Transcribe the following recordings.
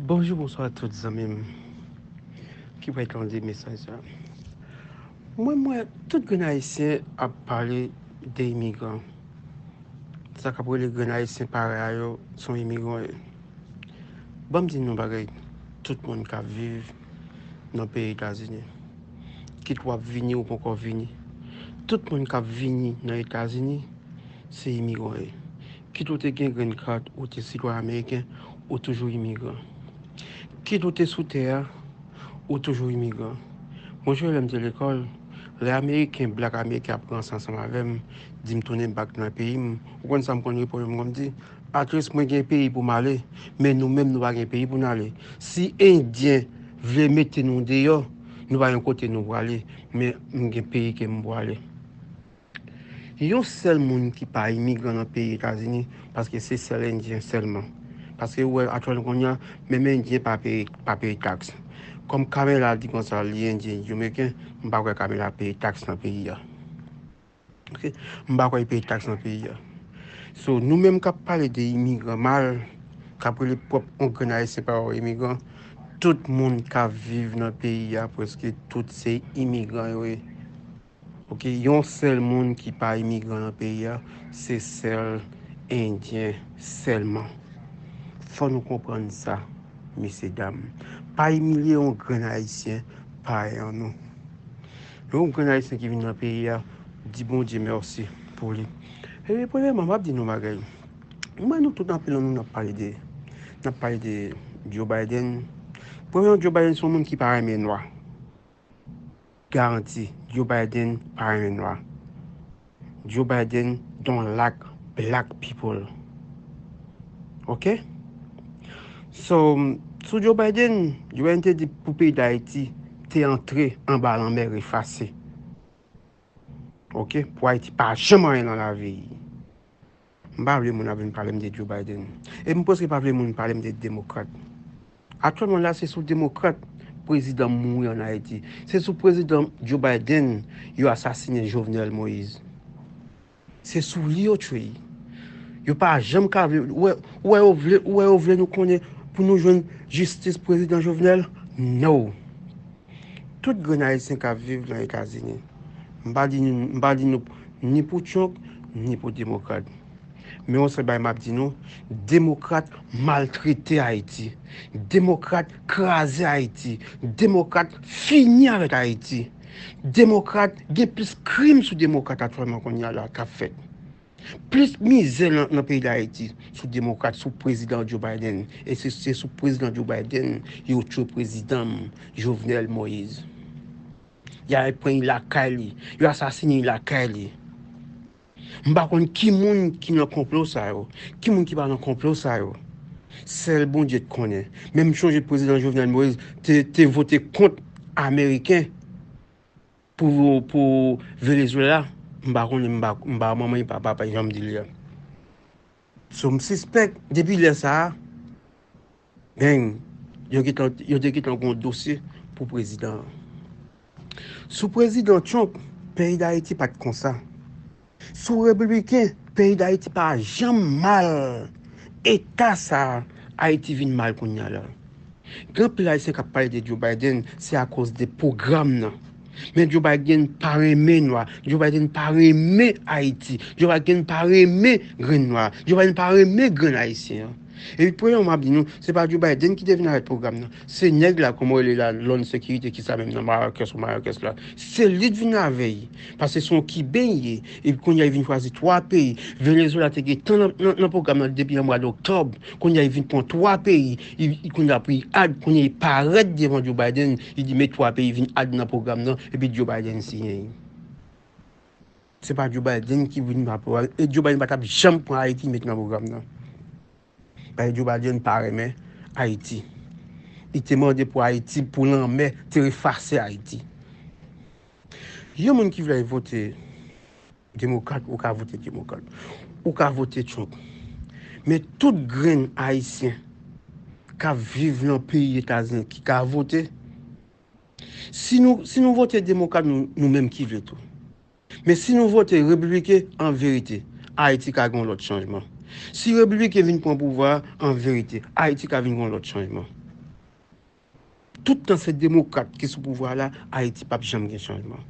Bonjou bonswa tout zanmim ki pral tande mesaj sa. Mwen mwen tout grenn ayisyen ap pale de imigran. Sa kap rele grenn ayisyen parey a yo son imigran yo. Banm di nou bagay tout moun kap viv nan peyi Etazini. Kit wap vini ou poko vini. Tout moun kap vini nan Etazini se imigran yo. Kit ou te gen grenn kat, ou te sitwayen ameriken, ou toujou imigran. Kit ou te sou tè a, ou toujou imigran. Mwen jwe lè m te lekòl, lè ameriken, blak ameriken ap ranse ansanm avè m, di m tounen bak nan peyi m, ou konn sa m konn reponn yo? M konn di, Atleast mwen gen peyi pou m ale, men nou menm nou pa gen peyi pou n ale. Si endyen vle mete nou deyò, nou pa gen kote nou prale, men m gen peyi ke m prale. Yon sèl moun ki pa imigran nan peyi etazini paske se sèl endyen sèlman paske ou wè aktyèlman kounya menm endyen pa peye pa peye tax kòm kamera di konsa li endyen li jomeken m pa kwè kamera peye tax nan peyi a ok m pa kwè li peye tax nan peyi a so nou menm kap pale de imigran mal kap rele pwòp on grenn ayisyen pa yo imigran tout moun kap viv nan peyi a prèske tout se imigran yo ye Ok yon sèl moun ki pa imigran nan peyi a se sèl endyen sèlman fò nou konprann sa mesye dam pa imilye yon grenn ayisyen payan nou yon grenn ayisyen ki vin nan peyi a di bondye mèsi pou li e premyèman map di nou yon bagay mwen nou tout anpil nan nou nap pale de nap pale de Joe Biden premyèman Joe Biden son moun ki pa renmen nwa. Garanti Joe Biden pa renmen nwa. Joe Biden don't like black people. Ok? So, sou Joe Biden, Joe Biden te di pou peyi Dayiti te antre anba lanmè refase. Ok? Pou Ayiti pa janm anyen nan lavi. M pa vle moun ap vin pale m de Joe Biden. E m preske pa vle moun pale m de demokrat. Aktyèlman la se sou demokrat prezidan mouri an Ayiti. Se sou prezidan Joe Biden yo asasinen Jovenel Moise. Se sou li yo tchwey. Yo pa janm ka vle, ou wè, ou wè yo vle, ou wè yo vle nou konnen pou nou jwenn jistis prezidan Jovenel? No! Tout grenn ayisyen kap viv nan etazini m pa di m pa di nou ni pou trump ni pou demokrat men yon sèl bagay map di nou demokrat maltrete ayiti demokrat kraze ayiti demokrat fini avèk ayiti demokrat gen plis krim sou demokrat aktyèlman kounya la kap fèt. Plis mizè nan peyi dayiti sou demokrat sou prezidan Joe Biden e se sou prezidan Joe Biden yo tchwe prezidan Jovenel Moise ya al pran li lakay li yo asasine li lakay li m pa konn ki moun ki nan konplo sa yo ki moun ki pa nan konplo sa yo sèl Bondye k konnen men m chonje prezidan Jovenel Moise te vote kont ameriken Pou Venezuela m pa konnen m pa manman m pa papa m jan m di l ya. So m sispèk depi lè sa a beng yo te gentan gon dosye pou prezidan an. Sou prezidan Trump peyi Dayiti pat konsa. Sou repibliken peyi dayiti pa janm mal eta sa ayiti vin mal kounya la gen anpil ayisyen kap pale de Joe Biden se akoz de pwogram nan men Joe Biden pa renmen nwa Joe Biden pa renmen ayiti Joe Biden pa renmen grenn nwa Joe Biden pa renmen grenn ayisyen epi premyèman map di nou se pa Joe Biden ki te vin avèk pwogram nan Se neg la koman w rele la lon sekirite kisa menm nan marakes ou marakes la se li t vin avey pase son kiben l ye epi kounye a li vin chwazi 3 peyi Venezuela te gentan nan program nan depi nan mwad oktob kounye a li vin pran 3 peyi li kounye a pou li add kounye li paret devan Joe Biden li di met 3 peyi vin add nan program nan epi Joe Biden siyen li. Se pa Joe Biden ki vin pran program nan e Joe Biden pa tap janm pran Haiti met nan program nan. Bay Joe Biden pa renmen Ayiti. Li te mande pou Ayiti pou lanmè te efase Ayiti. Yon moun ki vle vote demokrat ou ka vote demokrat. Ou ka vote Trump. Men tout grenn Ayisyen kap viv nan peyi Etazini ki ka vote. Si nou vote demokrat nou menm ki vle tou. Men si nou vote repibliken an verite Ayiti ka gen yon lòt chanjman. Si repibliken vin pran pouvwa a an verite Ayiti ka vin gen yon lòt chanjman. Tout tan se demokrat ki sou pouvwa la Ayiti pap janm gen chanjman.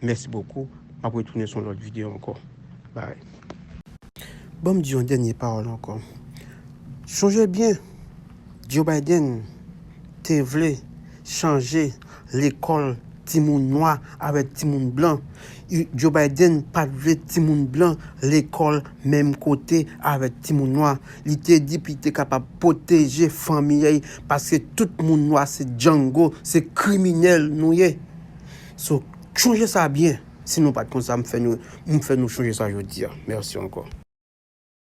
Mèsi bokou map retounen sou yon lòt video ankò. Bye. Banm di yon dènye pawòl ankò. Chonje byen! Joe Biden te vle chanje lekòl timoun nwa avèk timoun blan. Joe Biden pa t vle timoun blan lekòl menm kote avèk timoun nwa. Li te di pou li te kapab pwoteje fanmi y paske tout moun nwa se django, se kriminèl nou ye. So, chonje sa byen. Si nou pa t konn sa, m fè nou chonje sa jodi a. Mèsi ankò.